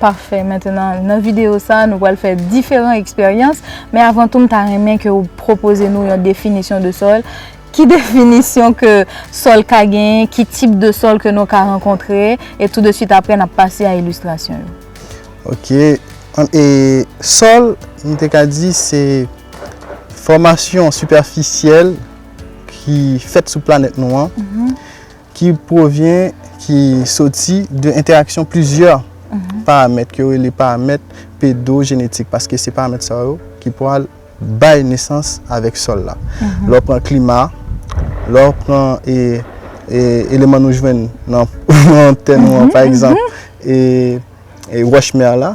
Pafè, mentenan nan videyo sa nou pral fè diferan eksperyans, men avan tou m ta renmen ke ou pwopoze nou yon definisyon de sòl, ki definisyon ke sòl ka genyen, ki tip de sòl ke nou ka rankontre, e tou de swit apre n ap pase a ilistrasyon yo. Ok, e sòl nou te ka di se fòmasyon sipèfisyèl ki fèt sou planèt nou an, Ki pwovyen, ki soti de entèraksyon plizyè paramèt ke yo rele paramèt pedojenetik paske se paramèt sa yo ki pwal bay nesans avèk sòl la. Lè w pran klima, lè w pran eleman nou jwenn nan tè nou an pa egzanp e wòch mè la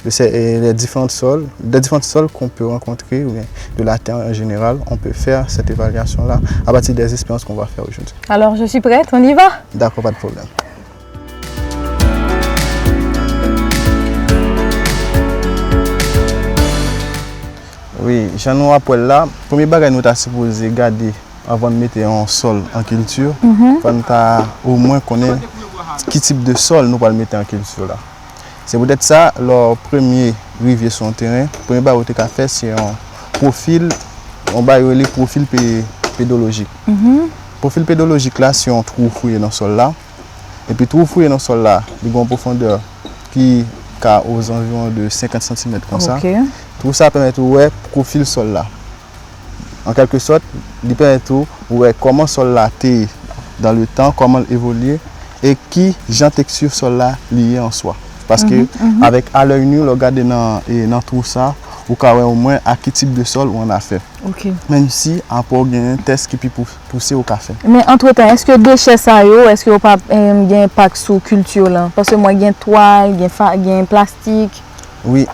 De se e de diferant sol, de diferant sol kon pe rankontre ou byen de la tè an jeneral, on pe fè sèt evalyasyon la a pati de esperans kon va fè ojodi. Alor je suis prèt, on y va! Dakò, pa de pwoblèm. Wi, jan nou ap wè l la, premye bagay nou ta sipoze gade anvan nou mete yon sol an kilti, fò nou ta omwen konnen ki tip de sol nou pral mete an kilti la. Se poutèt sa, lè w premye rive sou yon teren, premye bagay ou te ka fè se yon pwofil, yon bagay yo rele pwofil pedolojik. Pwofil pedolojik la se yon twou ou fouye nan sòl la, epi twou ou fouye nan sòl la, li gen yon pwofondè ki ka ozanviwon de 50 santimèt konsa. Twou sa pèmèt ou wè pwofil sòl la. An kèlke sòt, li pèmèt ou wè kòman sòl la te ye dan le tan, kòman l evolye e ki jan teksti sòl la li ye an swa. Paske avèk a lèy nu, lè w gade nan twou sa, ou ka wè omwen ak ki tip de sòl ou annafè. Menm si apre w gen tès ki pi pouse ou ka fè. Men antretan, èske dechè sa yo, èske yo pa gen enpak sou kilti w lan? Paske m wè gen twal, gen plastik. Wi.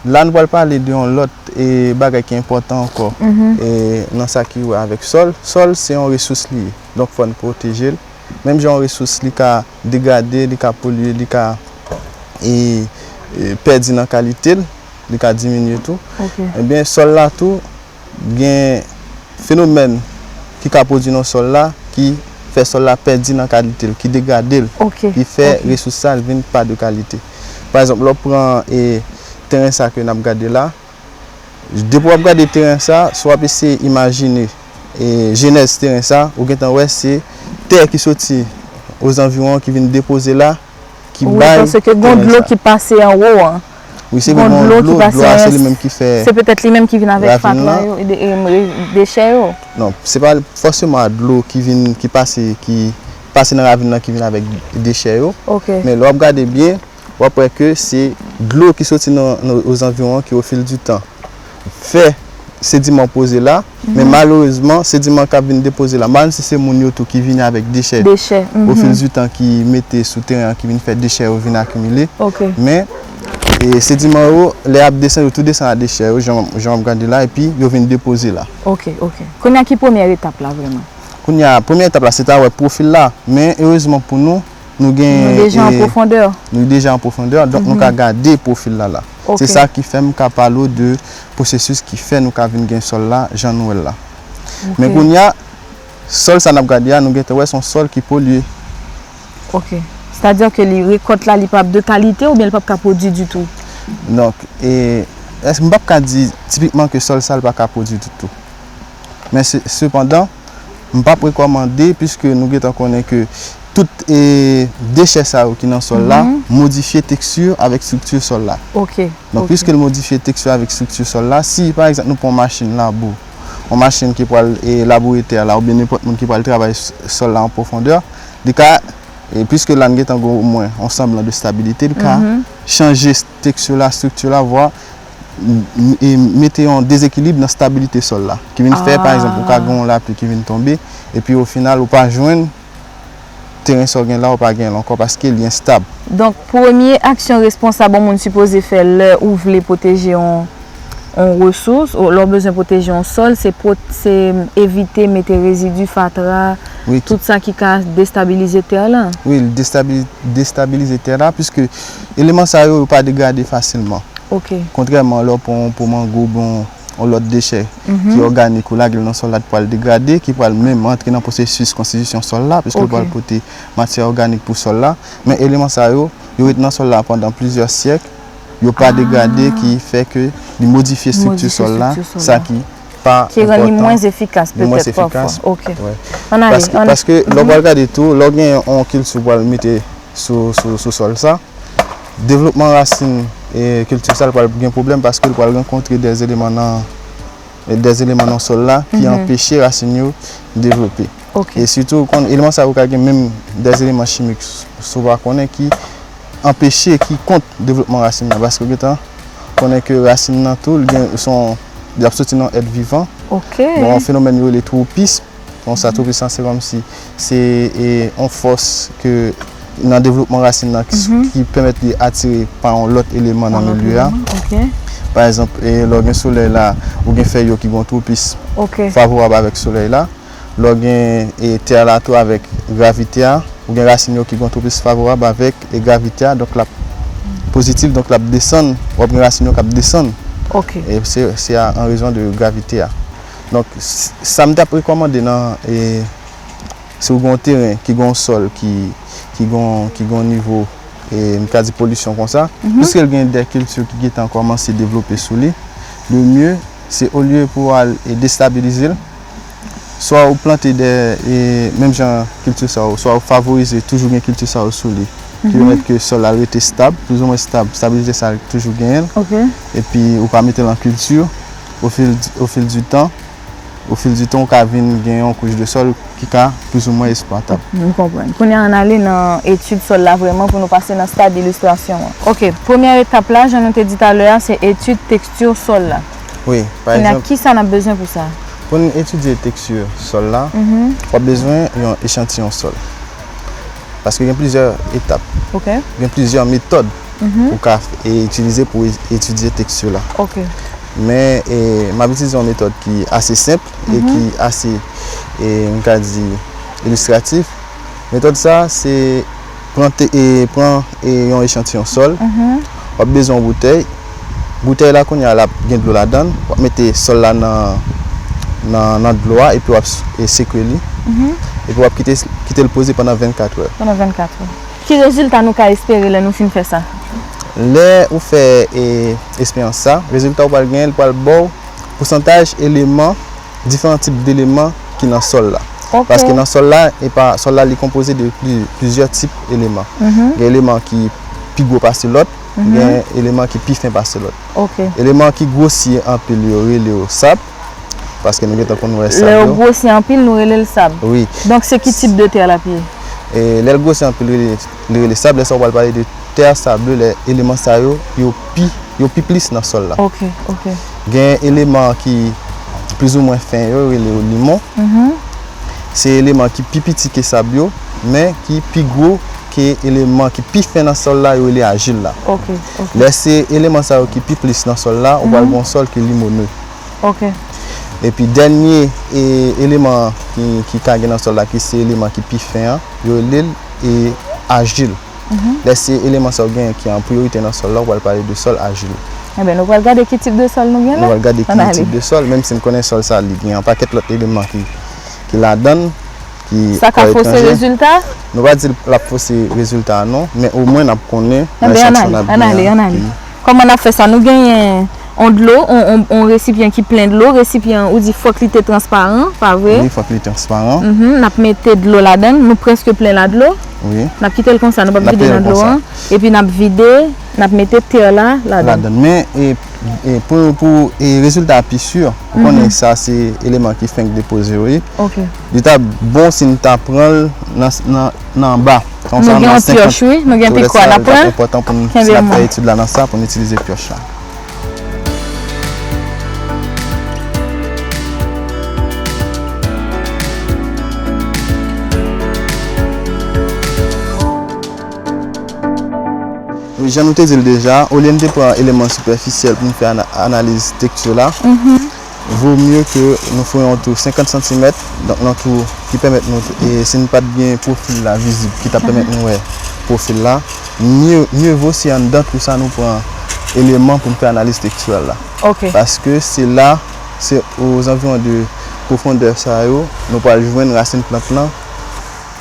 La nou pral pale de yon lòt bagay ki enpòtan ankò nan sa ki wè avèk sòl. Sòl se yon resous li ye, donk fò n pwoteje l. Menm jan yon resous li ka degrade, li ka polye, li ka pèdi nan kalite l, li ka diminye tou, enben sòl la tou, Gen fenomèn ki ka pwodwi nan sòl la ki fè sòl la pèdi nan kalite l, ki degrade l, ki fè resous sa l vin pa de kalite. Pa egzanp, lè w pran teren sa ke n ap gade la, depi w ap gade teren sa, si w ap eseye imajine jenèz teren sa, ou gentan wè se tè ki soti ozanviwon ki vin depoze la, ki bay teren sa. Wi, paske gen yon dlo ki pase anwo an. Wi, se yon dlo ki pase anwo an. Dlo a se li menm ki fè. Se petèt li menm ki vin avèk fatra yo. Ravin la. E de emre, dechè yo. Non, se pa fòseman a dlo ki vin, ki pase, ki pase nan ravin la ki vin avèk dechè yo. Ok. Men lè w ap gade byen, w ap wè ke se dlo ki soti nan ozanviwon an ki ofil di tan. fè sediman poze la, men malerezman sediman kap vin depoze la, malm si se moun yo tou ki vini avèk dechè, ofil di tan ki mete sou teren an ki vin fè dechè yo vin akimile, men sediman yo lè yap desann yo tou desann a dechè yo jan wap gade la epi yo vin depoze la. Ok, ok. Kounya ki premyè etap la vreman? Kounya premyè etap la se ta wè pwofil la, men erezman pou nou, Nou gen... Nou deja an pwofondè. Nou deja an pwofondè, donk nou ka gade pwofil la la. Ok. Se sa ki fè m ka pale w de pwosesis ki fè nou ka vin gen sòl la jan nou wè l la. Ok. Men kounye a, sòl sa n ap gade a, nou gen tan wè se yon sòl ki polye. Ok. Sètadi ke li, rekòt la li pa ap de kalite oubyen li pa ap ka pwodui ditou? Donk, e, èske m pa ap ka di tipikman ke sòl sa li pa ka pwodui ditou? Men sepandan, m pap rekòmande piske nou gentan konnen ke tout dechè sa yo ki nan sòl la modifye teksti avèk estrikti sòl la. Donk piske l modifye teksti avèk estrikti sòl la, si pa egzanp nou pran yon machin labou, yon machin ki pral laboure tè la oubyen nenpòt moun ki pral travay sòl la an pwofondè, li ka, piske la n gentan gen omwen yon sanblan de stabilite, li ka chanje teksti la, estrikti la, vwa. mete yon dezekilib nan stabilite sòl la, ki vin fè, pa egzanp, ou ka gen yon lapli ki vin tonbe, epi ofinal ou pa jwenn teren sa w gen la, ou pa gen l ankò paske li enstab. Donk, premye aksyon responsab yon moun sipoze fè lè ou vle pwoteje yon resous, lè w bezwen pwoteje yon sòl, se evite mete rezidi, fatra, tout sa ki ka destabilize tè lan. Wi, li destabilize tè la, piske. Eleman sa yo, yo pa degrade fasilman. Kontrèman lè w pran yon po mango oubyen yon lòt dechè ki òganik ou lage l nan sòl la li pral degrade ki pral menm antre nan pwosesis konstitisyon sòl la piske l pral pote matyè òganik pou sòl la men eleman sa yo, yo ret nan sòl la pandan plizyè syèk yo pa degrade ki fè ke li modifye estrikti sòl la sa ki pa enpòtan ki rann li mwens efikas petèt pafwa ok ann ale paske lè w pral gade tou lè w gen yon kilti ou pral mete. sou sòl sa. Devlopman rasin kilti sa l pral gen pwoblèm paske l pral rankontre dè eleman nan sòl la ki anpeche rasin yo devlope. E sitou ou konn eleman sa yo ka gen menm dè eleman chimik sou pa konnen ki anpeche ki kont devlopman rasin nan paske ou gen tan konnen ke rasin nan tou l gen son y ap soti nan èt vivan. Bon yon fenomèn yo rele twopis. Konsa tou pisan se kòmsi se yon fòs ke nan devlopman rasin nan ki pèmèt li atire pa yon lòt eleman nan milye a. Pa egzanp, lè w gen solèy la, ou gen fèy yo ki gen yon twopis favorab avèk solèy la. Lè w gen tè a la tou avèk gravite a, ou gen rasin yo ki gen yon twopis favorab avèk gravite a. Donk l ap pozitif, donk l ap desann. W ap gen rasin yo k ap desann. Se an rezon de gravite a. Donk, sa m t ap rekòmande nan, si w gen yon teren ki gen yon sòl ki gen yon nivo, m ka di polisyon konsa, piske l gen dè kilti ki gentan kòmanse devlope sou li, le mye se olye pou w al destabilize l, swa ou plante dè menm jan kilti sa yo, swa ou favorize toujou gen kilti sa yo sou li, ki pèmèt ke sòl la rete stab, plizoumwen stab, stabilite sa a toujou genyen l, epi ou pa mete l an kilti, O fil di tan, o fil di tan ou ka vin gen yon kouch de sòl ki ka plis ou mwen esplwatab. M konprann. Kounye a an n ale nan etid sòl la vrèman pou nou pase nan stad ilistrasyon an. Ok. Premyè etap la, jan nou te di talè a, se etid teksti sòl la. Wi. Pa egzanp. Kounye a, kisa n ap bezwen pou sa? Pou n etidye teksti sòl la, w ap bezwen yon echantiyon sòl. Paske gen plizyè etap. Ok. Gen plizyè metòd ou ka itilize pou etidye tèks yo la. Ok. Men, m ap itilize yon metòd ki ase senp e ki ase, m ka di, ilistratif. Metòd sa a, se pran yon echantiyon sòl, w ap bezwen yon boutèy. Boutèy la kounye a, l ap gen dlo ladan l. W ap mete sòl la nan dlo a epi w ap sekwe li. Epi w ap kite l poze pandan 24 è. Pandan 24 è. Ki rezilta nou ka espere lè nou fin fè sa? Lè ou fè esperyans sa, rezilta ou pral genyen, li pral ba w pousantaj eleman, diferan tip d'eleman ki nan sòl la. Paske nan sòl la, epa, sòl la li konpoze de plizyè tip eleman. Gen eleman ki pi gwo pase lòt, gen eleman ki pi fen pase lòt. Eleman ki gwosye anpil yo rele yo sab. Paske nou gentan konn wè sab yo. Lè yo gwosi anpil nou rele l sab. Wi. Donk se ki tip de tè l ap ye? E lè l gwosi anpil li rele sab. Lè sa ou pral pale de tè sable lè eleman sa yo yo pi yo pi plis nan sòl la. Ok. Ok. Gen eleman ki plizoumwen fen yo rele yo limon. Se eleman ki pi piti ke sab yo men ki pi gwo ke eleman ki pi fen nan sòl la yo rele ajil la. Ok. Ok. Lè se eleman sa yo ki pi plis nan sòl la ou pral gen yon sòl ki limone. Ok. Epi dènye eleman ki ka gen nan sòl la ki se eleman ki pi fen an, yo rele l ajil. Lè se eleman sa yo genyen ki an priyorite nan sòl la, ou pral pale de sòl ajil. Enben, nou pral gade ki tip de sòl nou gen la? Nou pral gade ki tip de sòl, menm si n konnen sòl sa li gen yon pakèt lòt eleman ki ladan l, ki an etranje. Sa ka fose rezilta? Nou pa di l ap fose rezilta non, men omwen n ap konnen nan esantiyon n ap gen an. Anben, an ale, an ale. Kòman nap fè sa? Nou genyen on dlo, on resipyan ki plen dlo, resipyan an ou di fòk li te transparan, pa vre? Wi, fòk li transparan. Mph, nap mete dlo ladann, nou prèske plen la dlo? Wi. Nap kite l konsa, nou pap vide nan dlo an? Nap kite l konsa. Epi nap vide, nap mete tè la ladann. Ladann. Men, pou rezilta a pi sur, ou konnen sa se eleman ki fenk depoze yo ye. Ok. Li tap bon si n ta pran l nan. nan anba. Nou gen yon pioch wi, nou gen pikwa nap pran. Si nap fè etid la nan sa pou nou itilize pioch la. Jan nou te di l deja, olye nou te pran eleman sipèfisyèl pou nou fè analiz tekti la. Vo mye ke nou fè yon tou 50 santimèt, donk yon tou ki pèmèt nou, si nou pat gen pwofil la vizib ki ta pèmèt nou wè pwofil la, mye, mye vo se anndan tou sa nou pran eleman pou nou fè analiz tekstyèl la. Paske se la, se ozanviwon de pwofondè sa yo nou pral jwenn rasin plant lan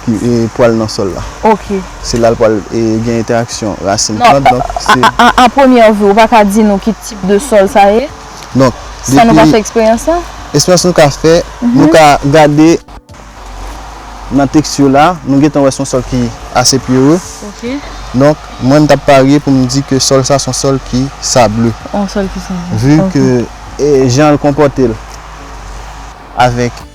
ki pral nan sòl la. Se la l pral gen entèraksyon rasin plant, donk se. A premyè vu, ou pa ka di nou ki tip de sòl sa ye? Donk, depi... Sa nou ka fè eksperyans la? Eksperyans nou ka fè, nou ka gade nan teksti la, nou gentan wè son sòl ki ase pierreux. Ok. Donk, mwen m tap parye pou m di ke sòl sa son sòl ki sable. On sòl ki sable. Vu ke jan l konpòte l avèk.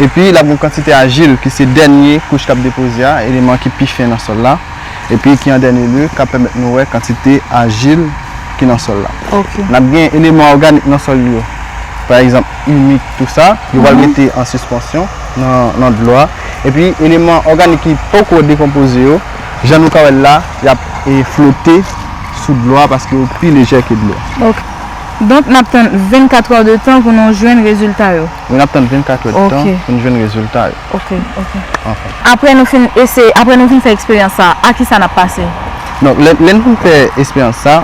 epi l ap gen yon kantite ajil ki se dènye kouch k ap depoze a, eleman ki pi fen nan sòl la, epi ki an dènye lye k ap pèmèt nou wè kantite ajil ki nan sòl la. N ap gen eleman òganik nan sòl yo, pa egzanp imik tou sa, yo pral rete an sispansyon nan dlo a, epi eleman òganik ki poko dekonpoze yo, jan nou ka wè l la, y ap flote sou dlo a paske yo pi lejè ke dlo. Ok. Donk n ap tann 24 èdtan pou nou jwenn rezilta yo. Wi nap tann 24 èd tan pou nou jwenn rezilta yo. Ok ok enfin. Aprè nou fin eseye aprè nou fin fè eksperyans sa a ki sa nap pase? Donk lè lè nou fin fè esperyans sa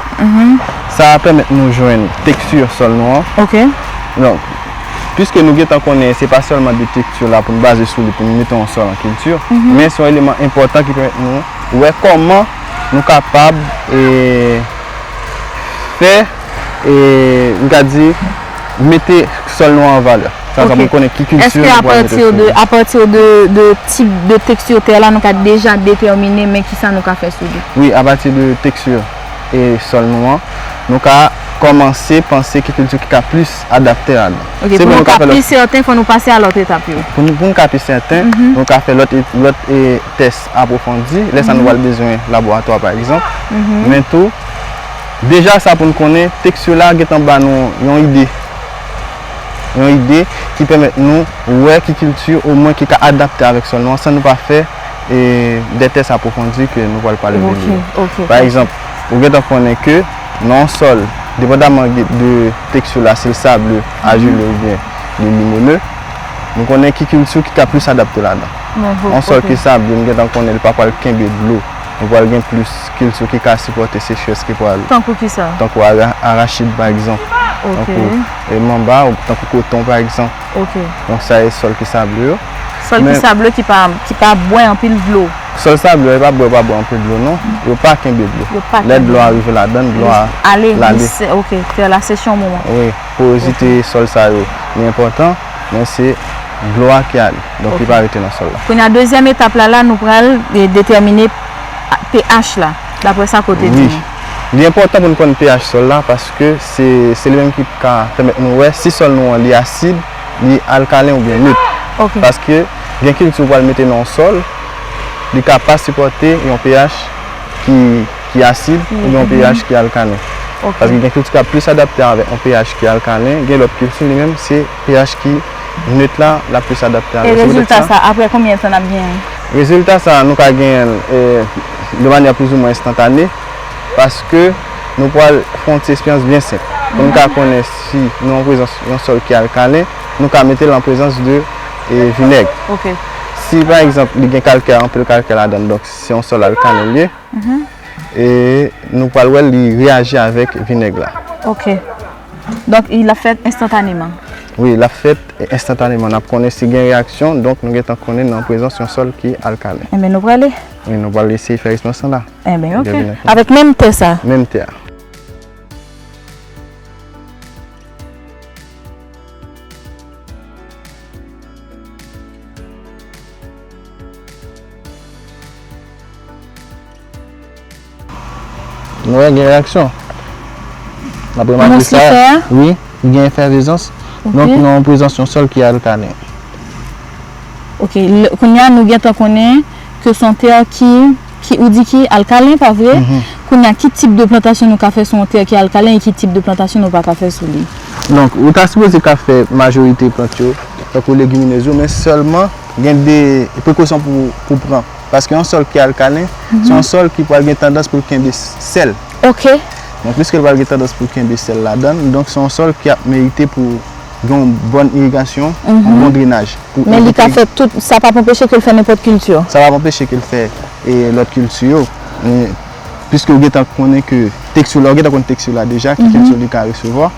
sa pèmèt nou jwenn teksti sòl nou an ok donk piske nou gentan konnen se pa sèlman de teksti la poun baze sou li poun mete yon sòl an kilti men son eleman enpòtan ki pèmèt nou wè kòman nou kapab e fè e nou ka di. Mete sòl nou an an valè. Sa sa pou konnen ki kilti nou pral mete sou li. Eske apati de, apati de tip de teksti tè la nou ka deja detèmine men ki sa nou ka fè sou li? Wi, apati de teksti e sòl nou an, nou ka kòmanse panse ki kilti ki ka plis adapte a nou. Ok, pou nou ka plis sèten, fò nou pase a lòt etap yo. Pou nou ka pi sèten, nou ka fè lòt tès apwofondi. Lè sa nou pral bezwen laboratwa pa egzanp. Men tou. Deja sa pou n konnen, tèks yo la gentan ba nou yon ide, yon ide ki pèmèt nou wè ki kilti omwen ki ka adapte avèk sòl nou an san nou pa fè de tès apwofondi ke nou pral pale de li yo. Pa egzanp, ou gentan konnen ke nan yon sòl, depandaman de tèks yo la, si l sable, ajile oubyen li limoneux, nou konnen ki kilti ki ka plis adapte ladan. Yon sòl ki sable, nou gentan konnen li pa pral kenbe dlo. Nou pral gen plis kilti ki ka sipòte sechrès ki pral. Tankou ki sa? Tankou arachid pa egzanp. Ok. Tankou manba, tankou koton pa egzanp. Ok. Donk sa e sòl ki sableu yo. Sòl ki sableu ki pa, ki pa bwè anpil dlo. Sòl sableu yo yo pa bwè pa bwè anpil dlo non. Yo pa kenbe dlo. Yo pa kenbe dlo. Lè dlo a rive ladann, dlo a. Ale, glise. Ok. Tè la seche yon moman. Wi. Porozite sòl sa yo li enpòtan. men se dlo a ki ale donk li pa rete nan sòl la. Kounya dezyèm etap la la nou pral detèmine pH la daprè sa ke w te di nou. Wi, li enpòtan pou nou konn pH sòl la paske se li menm ki ka pèmèt nou wè si sòl nou an li asid, li alkalen oubyen nit. Paske gen kilti ou pral mete nan yon sòl li ka pa sipòte yon pH ki. ki asid oubyen yon pH ki alkalen. Paske gen kilti k ap plis adapte avèk yon pH ki alkalen, gen lòt kilti li menm se pH ki nöt la l ap plis adapte avèk. E rezilta sa aprè konbyen tan n ap genyen l? Rezilta sa nou ka genyen l de manyè plizoumwen enstantane paske nou pral fè yon ti eksperyans byen senp. Pou nou ka konnen si nou an prezans yon sòl ki alkalen, nou ka mete l an prezans de vinèg. Si pa egzanp li gen kalkè, anpil kalkè ladan l donk se yon sòl alkalen l ye. e nou pral wèl li reyaji avèk vinèg la. Ok. Donk li ap fèt enstantaneman. Wi, l ap fèt enstantaneman. N ap konnen si gen reyaksyon, donk nou gentan konnen nou an prezans yon sòl ki alkalen. Enben nou prale. Wi, nou pral eseye fè resmans lan la. Enben ok. Avèk menm tè sa. Menm tè a. Nou wè gen reyaksyon. Nan premye matris sa, wi, gen efèvizans. Non ki nan prezans yon sòl ki alkalen. Ok, kounye a nou gen tan konnen ke son tè ki, ki ou di ki alkalen, pa vre? Kounye a ki tip de plantasyon nou ka fè sou yon tè ki alkalen e ki tip de plantasyon nou pa ka fè sou li? Donk, ou ta sipoze ka fè majorite plant yo, tankou legiminez yo, men sèlman. Gen de prekosyon pou ou pran. Paske yon sòl ki alkalen, se yon sòl ki pral gen tandans pou l kenbe sèl. Ok. Donk, piske l pral gen tandans pou l kenbe sèl ladan l, donk se yon sòl ki ap merite pou gen yon bòn irigasyon, yon bon drenaj. Men li ka fè tout, sa pa p anpeche ke l fè nenpòt kilti yo? Sa pa p anpeche ke l fè lòt kilti yo. Men, piske ou gen tan konnen ke teksti, lè ou gen tan konn teksti w la deja, ki kilti li ka resevwa.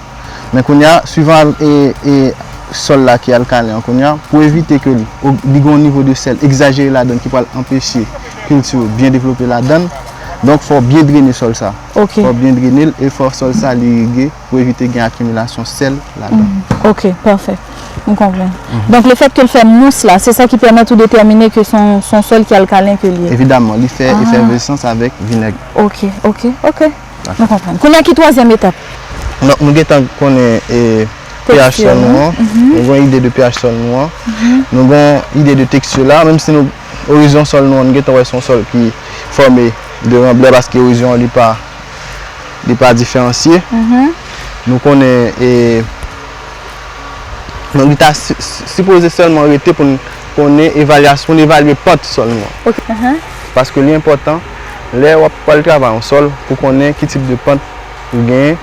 Men kounye a, suivan al e sòl la ki alkalen an kounye a, pou evite ke li gen yon nivo de sèl egzajere ladann ki pral anpeche kilti yo byen devlope ladann, donk fò w byen drene sòl sa. Ok. Fò w byen drene l e fò sòl sa li irige pou evite gen akimilasyon sèl ladan. Ok, pafè. M konprann. Donk le fèt ke l fè mous la, se sa ki pèmèt ou detèmine ke se yon sòl ki alkalen ke l ye? Evidaman, li fè efèvesans avèk vinèg. Ok, ok, ok. Nou konprann. Kounye a ki twazyèm etap? Nou gen tan konnen pH sòl nou an. Nou gen yon ide de pH sòl nou an. Nou gen yon ide de teksti la. Menm si nou, orizyon sòl nou an, nou gen tan wè se yon sòl ki fòme de ranblè paske orizyon an li pa, li pa diferansye. Nou konnen e, donk li ta sipoze sèlman rete pou n konnen evalyas, pou n evalye pant sòl nou an. Paske li enpòtan. lè wap pral travay yon sòl pou konnen ki tip de pant ou genyen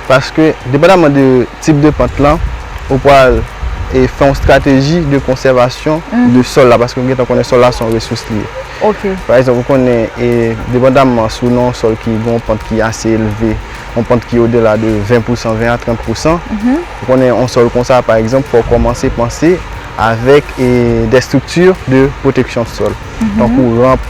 paske depandaman de tip de pant lan ou pral fè yon strateji de konsèvasyon de sòl la paske ou gentan konnen sòl la son resous li ye pa egzanp ou konnen depandaman si ou nan yon sòl ki gen yon pant ki ase elve yon pant ki odela de 20 pousan 20 a 30 pousan ou konnen yon sòl konsa pa egzanp fòw kòmanse panse avèk de estrikti de pwoteksyon sòl. tankou ramp,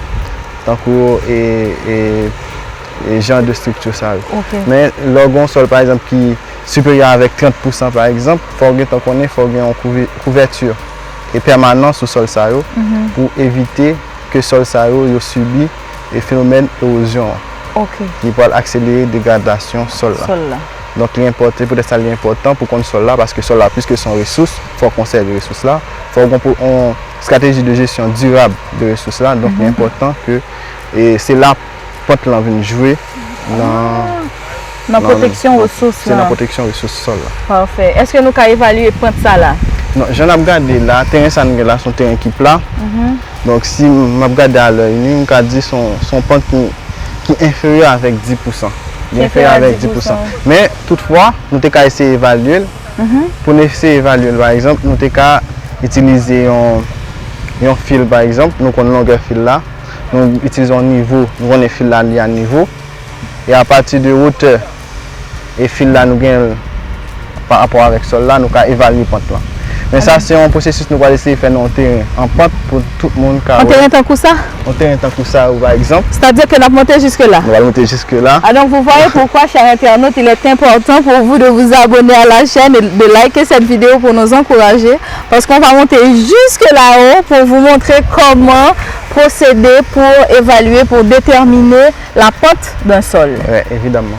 tankou e jan de strikti sa yo. Men, lè w gen yon sòl pa egzanp ki siperyè avèk 30 pousan pa egzanp, fò w gen tan konnen fò w gen yon kouvèti e pèmanan sou sòl sa yo pou evite ke sòl sa yo yo sibi e fenomèn ewozyon an. Ok. Ki pral akselere degradasyon sòl la. Sòl la. Donk li enpòte, poutèt sa li enpòtan pou konn sòl la paske sòl la piske son resous, fò w konsève resous la, fò w gen yon. Strateji de jesyon dirab de resous la, donk li enpòtan ke se la pòt lan vin jwe nan pwoteksyon resous lan. Nan pwoteksyon resous sòl la. Pafè. Eske nou ka evalye pant sa la? Non, jan nap gade la, teren sa nou gen la son teren ki pla, donk si map gade a lèy nu, m ka di son pant ki enferyè avèk 10 pousan. Ki enferyè avèk 10 pousan. Men, tout fwa, nou te ka eseye evalye l. pou n eseye evalye l. Pa egzanp, nou te ka itilize yon fil, pa egzanp, nou konn longè fil la, nou itilize yon nivo, nou konnen fil la li a nivo, e apati de wotè e fil la nou gen pa rapò avèk sòl la, nou ka evalye pant lan. Men sa se yon pwosesis nou pral eseye fè nan yon teren an pant pou. Tout moun ka wè. Yon teren tankou sa? Yon teren tankou sa ou pa egzanp. Sètadi ke nap monte jiske la? Nou pral monte jiske la. A donk vou vwayè poukwa chè entènot il est enpòtan pou vou de vou abone a la chèn e de layke sèt video pou nou ankouraje paske on va monte jiske la o pou vou montre kòman pwosede pou evalye pou detèmine la pant dun sòl. Evidamman.